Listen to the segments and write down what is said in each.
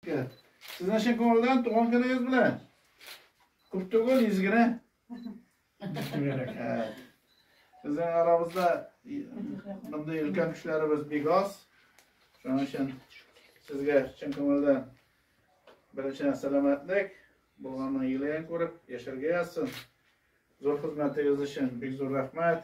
Сезне чын күңелдән туган көнегез белән. Күп түгел, йөз генә. Безнең арабызда мондый өлкән кешеләребез бик аз. Шуның өчен сезгә чын күңелдән беренче сәламәтлек, булганның юлын күреп, яшәргә язсын. Зур хезмәтегез өчен бик зур рәхмәт.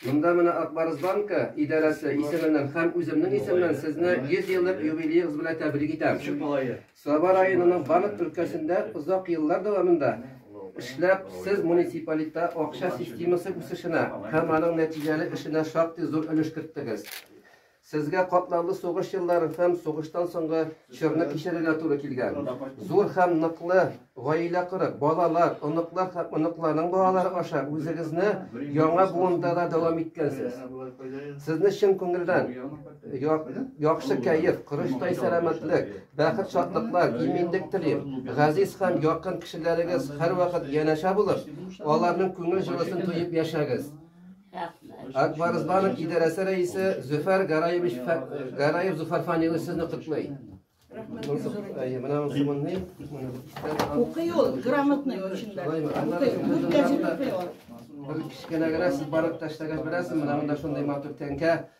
Монда менә Акбарыс банка идарәсе исеменнән һәм үземнең исемнән сезне 100 еллык юбилеегыз белән тәбрик итәм. Саба районының Банат өлкәсендә озак еллар дәвамында эшләп, сез муниципалитетта акча системасы үсешенә һәм аның нәтиҗәле эшенә шактый зур өлеш керттегез. Сезгә катлаулы сугыш еллары һәм сугыштан соңгы чорны кичерергә туры килгән. Зур һәм ныклы гаилә корып, балалар, оныклар һәм оныкларның балалары аша үзегезне яңа буында да дәвам иткәнсез. Сезне чын күңелдән яхшы кәеф, корычтай сәламәтлек, бәхет, шатлыклар, иминлек телим. Газиз һәм якын кешеләрегез һәрвакыт янәшә булып, аларның күңел җылысын тоеп яшәгез. Акбарызбанов идарәсе рәисе Зөфәр Гараевич Гараев Зөфәр Фанилович сезне котлый. Укый ул, грамотный очень да. Кечкенә генә сез барып ташлагач беләсез, менә монда шундый матур тәңкә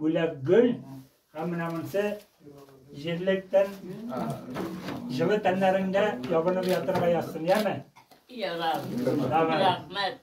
Бүләк гөл һәм менә монсы җирлектән җылы тәннәреңдә ябынып ятырга язсын, яме? Ярар. Рәхмәт.